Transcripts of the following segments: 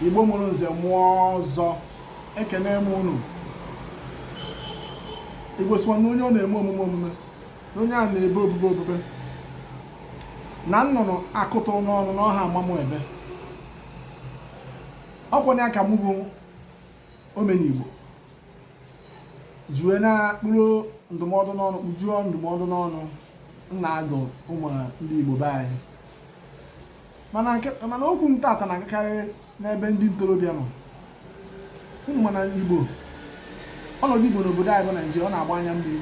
igbo mụrụ nze mụọ ọzọ ekene m unu igbo sịkwa na onye ọ na-eme omume omume na onye a na-ebe obube obube na nnụnụ akụtụ n'ọnụ n'ọha amamụ ebe ọ kwa ya ka m bụ omenigbo ji wee na-akpụrụ ndụmọdụ n'ọnụ kpujuo ndụmọdụ n'ọnụ na-adụ ụmụ ndị igbo be anyị mana nke mana okwu m tata na-agakarị n'ebe ndị ntorobịa nọ unu ma na igbo ọnọdụ igbo n'obodo anyị bụ naijiria ọ na-agba anya mmiri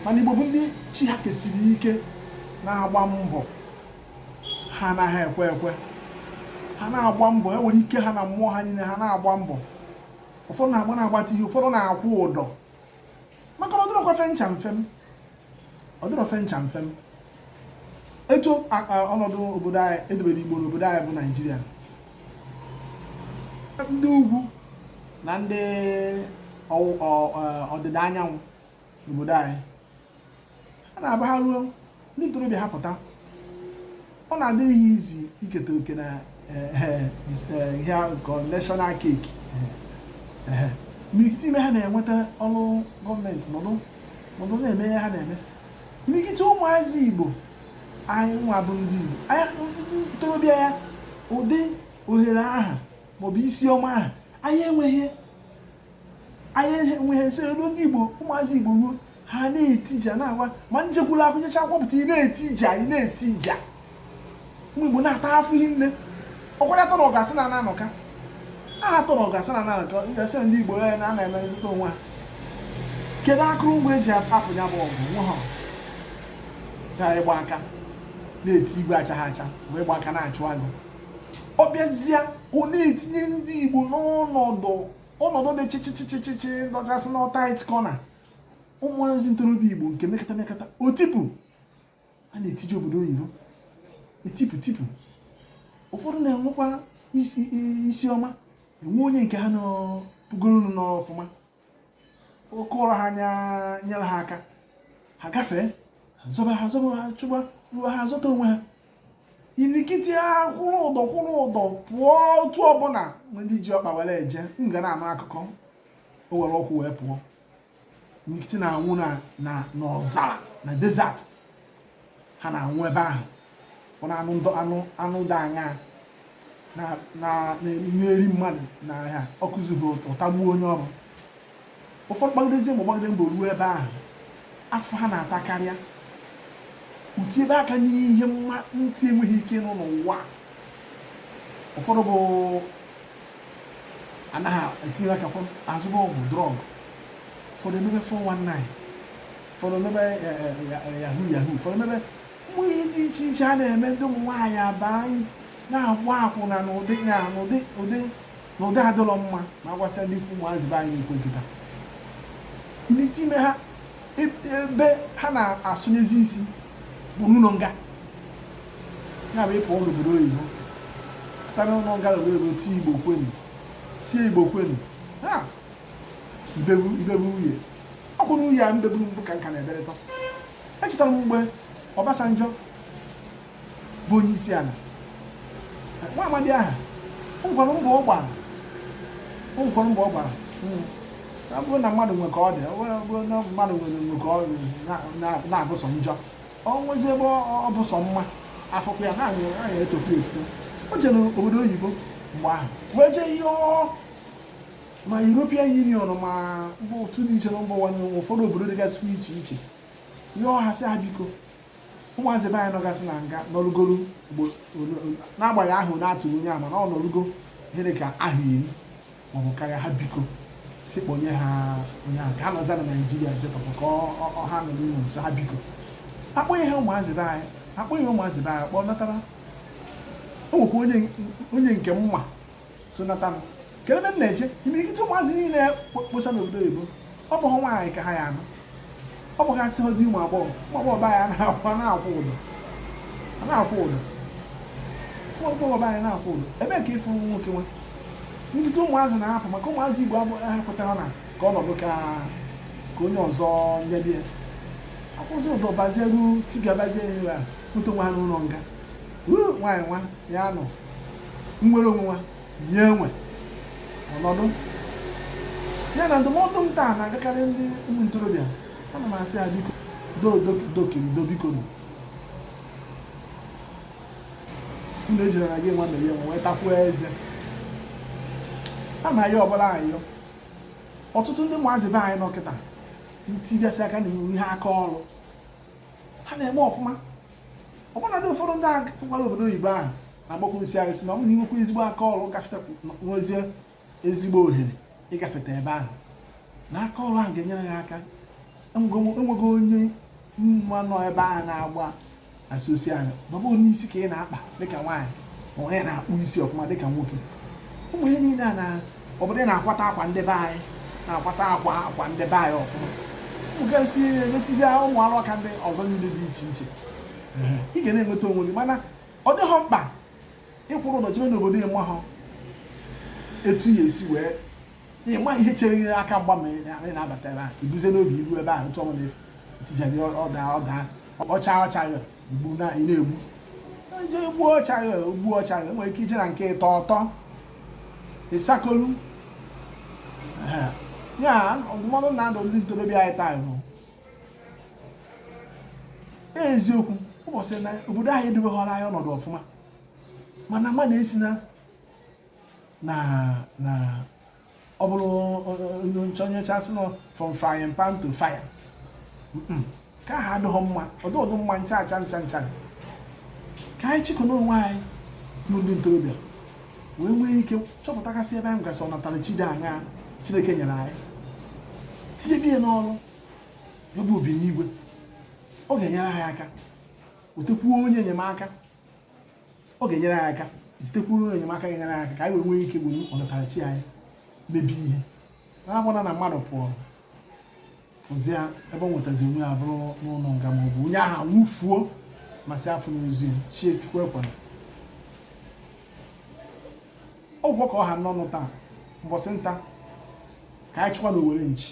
mana igbo bụ ndị chi ha kesiri ike na-agba mbọ ha anaghị ekwe ekwe ha na-agba mbọ ewere ike ha na mmụọ ha niile ha na-agba mbọ ụfọdụ na-agba na-agbata ihe ụfọdụ na-akwụ ụdọ maka na ọ dịrọkwa mfe ncha mfe m ọ dịrọ mfe ncha mfe m etu a- a- ọnọdụ obodo anyị e dobere igbo n'obodo anyị bụ naijiria ndị ugwu na ndị ọwụ- ọ- ọ- ọdịda anyanwụ n'obodo anyị ha na-abụ ha ruo ndị ntorobịa ha pụta ọ na-adịrị ha easy iketa oke na eh, eh, eh, ihe nke national cake imirikiti ime ha na-enweta ọrụ gọọmenti nọdụ nọdụ na-eme ihe ha na-eme imirikiti ụmụazị igbo anyị nwa bụ ndị igbo ndị ntorobịa ya ụdị ohere aha maọbụ isi ọma aha anyị enweghị anyị enweghị nso elu ndị igbo ụmụazị igbo ruo ha na-etija na-agwa ma ị jekwa ụlọ akwụ- jechaa akwụkwọ pụta ị na-etija ị na-etija ụmụ igbo na-ata afụfụ hinne ọkwara atọ na ọgasị na anọka aha atọ na ọgasị na anọka gasị ndị igbo ya na ana eme nzọta onwe ha kedu akụrụngwa e ji apụ ya bụ ọgụ nwe ha ga na-agba aka na-eti igwe achaghị acha wee gba aka na-achụ agụ ọ bịazie ọ na-etinye ndị Igbo n'ọnọdụ ọnọdụ dị chịchịchịchịchị dọchasị na tight corner ụmụazị ntorobịa Igbo nke mekata mekata o tipu ha na-etiji obodo oyibo etipu tipu ụfọdụ na-enwekwa isi ọma e nwee onye nke ha nọpụgoro n'ọfụma o kuru ha nyere ha aka ha gafee ha zọba ha zọba ha chụgba ruo ha zọta onwe ha imirikiti ha kwụrụ ụdọ kwụrụ ụdọ pụọ otu ọbụla ndị ji ọkpa were eje ị ga na-anụ akụkọ o were ụkwụ wee pụọ imirikiti na-anwụ na na n'ọzara na desert ha na-anwụ ebe ahụ ọ na-anụ ndụ anụ anụ dị anya na-eri mmadụ na ha ọkụzughi ọ tagbuo onye ọrụ ụfọdụ gbagidezie ma gbagide mbọ ruo ebe ahụ afụfụ ha na-ata karịa etiebe aka n'ihe mma ntị enweghị ike ịnụ n'ụwa ụfọdụ bụ na ha etinye aka azụba ọgwụ drug ụfọdụ emebe 419 ụfọdụ emebe yahoo yahoo ụfọdụ emebe ụmụ ihe dị iche iche a na-eme ndị ụmụ nwaanyị abaa n'ịgba akwụna n'ụdị ya n'ụdị ụdị n'ụdị adịrọ mma ma gwasịa ndị ikwu ụmụazị be anyị ekwe kịta imirikiti ime ha ebe ha na-asụnyezi isi bụ n'ụlọ nga ya bụ ịpụ n'obodo oyibo pụta n'ụlọ nga obodo oyibo tie igbo kwenu tie igbo kwenu ha ibebu ibebu uhie ọ bụ n'uhie a mbeburu mbụ ka nka na-eberịta echetara m mgbe Obasanjo bụ onye isi ala nwa amadi ahụ ngwara mbọ ọ gbara ngwara mbọ ọ gbara hmm. ọ bụrụ na mmadụ nwe ka ọ dị ọ bụrụ na mmadụ nwere nwe ka ọ na-abụ sọ njọ o nwezi ebe ọ bụ sọ mma afụkwa ya n'anya etokwa ya otuto o jere obodo oyibo mgbe ahụ wee jee yọọ ma European Union ma mba otu dị iche na mba ụwa n'ụwa ụfọdụ obodo dịgasị iche iche yọọ ha sị ha biko ụmụazị be anyị nọgasị na nga nọrụgoro n'agbaghị ahụ na-atụ onye ama na ọ nọrụgo ihe dị ka afọ iri maọbụ karịa ha biko sị kpọnye ha onye ahụ ka ha nọzie na naijiria jetọpụ ka ha nọ n'ụlọ nso ha biko akpọghị ha ụmụazị be anyị akpọghị ụmụazị be anyị kpọnatara o nwekwa onye nke m ma so nata m kedu ebe m na-eje imirikiti ụmụazị niile kposa n'obodo oyibo ọ bụghị nwaanyị ka ha ya anụ ọ bụghị asị dị ụmụ agbọghọ ụmụ agbọghọ be anyị na-akwụ ụdọ na-akwụ ụdọ ụmụ agbọghọ be anyị na-akwụ ụdọ ebe ka ịfụ nwoke nwa imirikiti ụmụazị na-ahapụ maka ụmụazị igbo ahapụtara na ka ọnọdụ ka onye ọzọ nyebie akwụzi ụdọ bazie ruo tigabazie ihe ya nweta nwa ha n'ụlọ nga nwaanyị nwa ya nọ nwere onwe nwa nye enwe ọnọdụ ya na ndụmọdụ m taa na-agakarị ndị ụmụ ntorobịa ana m asị ya biko dokirido biko nụ unu ejiri na gị nwa mere ya nwa wee takwuo eze a na ya ọbụla ayọ ọtụtụ ndị ụmụazị be anyị nọ kịta etigasị aka n'ihe aka ọrụ ha na-eme ọfụma ọbụna dị ụfọdụ ndị a pụkwara obodo oyibo ahụ na-agbakwu nsị arịsị ma ọ bụ na inwekwa ezigbo aka ọrụ gafeta nwezie ezigbo ohere ịgafeta ebe ahụ na aka ọrụ ahụ ga-enyere ya aka enweghị onye m ma nọ ebe ahụ na-agba asosi anya ma ọ bụ na isi ka ị na-akpa dịka nwaanyị ma onye na-akpụ isi ọfụma dịka nwoke ụmụ ihe niile a na obodo na-akwata akwa ndị be anyị na-akwata akwa akwa ndị be anyị ọfụma ụgasị emetizi ụmụ ọlụ aka ndị ọzọ niile dị iche iche ị ga na-enweta onwe gị mana ọ dịghọ mkpa ịkwụrụ ọtọ jebe n'obodo ị mahọ etu ya esi wee ịma ihe chere gị aka mgba ma ị na-abata ebe ahụ i buzie n'obi iru ebe ahụ ntụ ọma na-efu etijabi ọda ọda ọcha ọcha ya igbu na ị na-egbu je gbuo ọcha gị gbuo ọcha gị nwere ike ije na nke ịtọ ọtọ ịsakolu ya ndụmọdụ m na-adụ ndị ntorobịa anyị taa bụ eziokwu ọ bụ ezie na obodo anyị edobeghọrọ anyị ọnọdụ ọfụma mana mmadụ esi na na na ọ bụrụ nke onye ọcha sị na ọ from frying pan to fire nke ahụ adịghị mma ọ dịghọ mma ncha ncha ncha ncha ka anyị chịkọnụ onwe anyị bụ ndị ntorobịa wee nwee ike chọpụtagasị ebe anyị gasị ọnatarachi dị aṅaa chineke nyere anyị tinyebe ya n'ọrụ ya bụ obinigwe ọ ga-enyere anyị aka wetekwuo onye enyemaka ọ ga-enyere anyị aka zitekwuru enyemaka ga-enyere anyị aka ka anyị wee nwee ike were ọnatarachi anyị mebe ihe na-abụghị na mmadụ pụọ pụzie ebe ọ nwetazi onwe ya bụrụ n'ụlọ nga ma ọ bụ onye ahụ nwụfuo ma si afọ n'ozu ya chie chukwu ekwela ọ gwụgo ka ọ ha m n'ọnụ taa mbọsị nta ka anyị chụkwa na owere nchi